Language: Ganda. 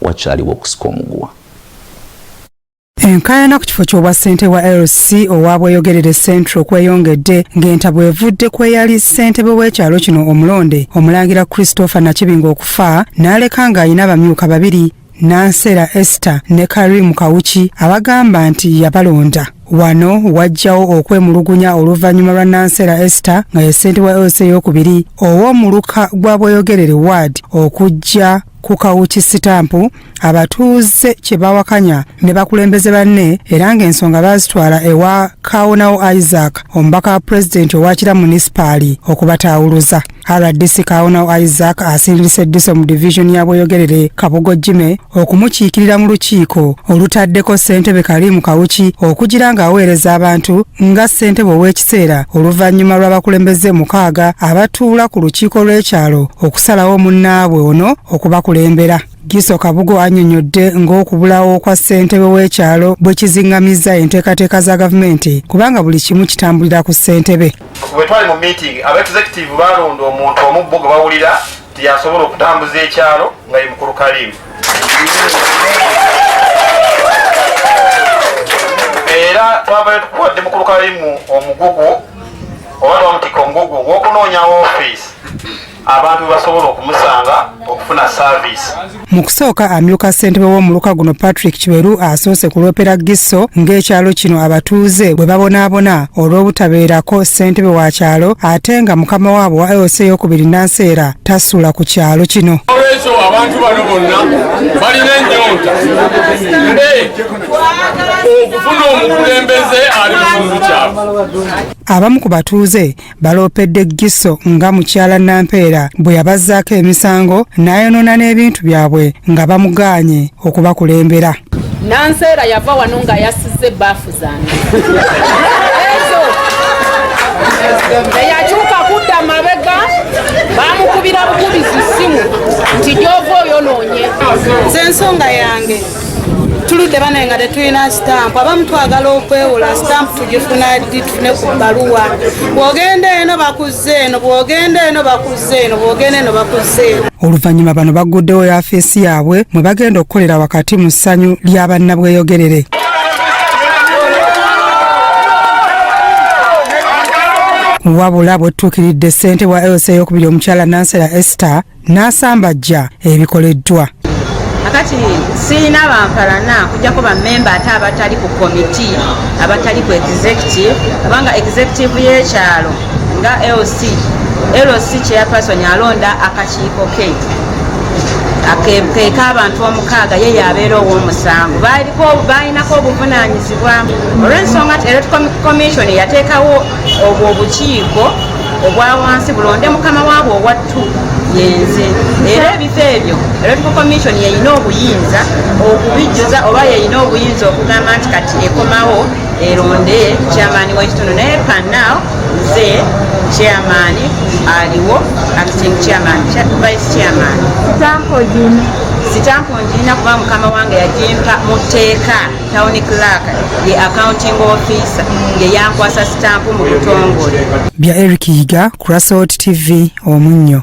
wakyaliwo okusika omuguwa. Enkaayana ku kifo ky'obwa ssente wa LC owa Bweyogerere Central kweyongedde ng'enta bwevudde kweyali ssentebe w'ekyalo kino omulonde Omulangira Christopher Nakibingo okufa n'aleka ng'alina abamyuka babiri Nansera Esther ne Karim Kawuki abagamba nti yabalonda. Wano wajjawo okwemulugunya oluvannyuma lwa Nansera Esther nga ye ssentebe wa LC ey'okubiri ow'omuluka gwa Bweyogerere Ward okujja ku kawuki sitampu abatuuze kye bawakanya ne bakulembeze banne era ng'ensonga baazitwala ewa kaawonawo isaac omubaka wa pulezidenti owakira munisipaali okubataawuluza rdc kaawonawo isaac asindise eddiso mu divizoni ya bweyogerere kabugo jime okumukiikirira mu lukiiko olutaddeko ssentebe kaliimu kawuki okugira ng'aweereza abantu nga ssentebe ow'ekis ekiseera oluvannyuma lw'abakulembeze mukaaga abatuula ku lukiiko lw'ekyalo okusalawo munnaabwe ono okubakulembera Giso Kabugo anyonyodde ng'okubulawo kwa ssentebe w'ekyalo bwe kizingamizza enteekateeka za gavumenti kubanga buli kimu kitambulira ku ssentebe bwe twali mu meeting aba executive baalonda omuntu omubbo gwe bawulira nti yasobola okutambuza ekyalo nga ye mukulu kaliimu era twavayo tukuwadde mukulu kalimu omugugu oba twamutikka omugugu gwokunoonya ofiisi abantu basobola okumusanga okufuna saavisi mu kusooka amyuka ssentebe w'omuluka guno patrick kiberu asoose kulopera gisso ng'ekyalo kino abatuuze bwe babonaabona olw'obutabeerako ssentebe wa kyalo ate nga mukama waabwe wa eosi eyokubiri nanseera tasula ku kyalo kino olwekyo abantu bano bonna balina ennyonta mbe okufuna omukulembeze ali mukitundu kyabwe abamu ku batuuze baloopedde giso nga mukyala nampeera bwe yabazzaako emisango n'ayonoona n'ebintu byabwe nga bamugaanye okubakulembera nanseera yava wano nga yasizza ebbafu eyakyuka kudda mabega bamukubira bukubizi simu nti gyova oyonoonye nze ensonga yange tuludde banaye nga tetulina sitampu abamu twagala okwewola sitampu tugifuna ddi tufune ku bbaluwa bwogenda eno bakuz eno bwogenda eno bakuzza eno bwogenda eno bakuzza eno oluvannyuma bano bagguddewo yafeesi yaabwe mwe bagenda okukolera wakati mu ssanyu lya bannabweyogerere wabula bwetutuukiridde ssente wa lsa eyokubiri omukyala nansera ester n'asambajja ebikoleddwa kakati sirina bampalana kujjako bamemba ate abatali ku komiti abatali ku executive kubanga executive y'ekyalo nga lc lc chairperson alonda akakiiko ke keka abantu omukaaga ye yabeera ow'omusango balinako obuvunanyizibwa olw'ensonga nti electoral commission yateekawo obwo obukiiko obwa wansi bulonde mukama waabwe owa yenze era ebifo ebyo electoral commission yeyina obuyinza okubijjuza oba yeyina obuyinza okugamba nti kati ekomawo eronde chairman wekitundu naye panaw nze chairman aliwo acting chairman vice chairman sitampo njirina kuba mukama wange yajimpa muteeka Town clerk ye accounting officer ye yankwasa stamp mu butongole. Bya Eric Yiga, Kurasot TV, Omunyo.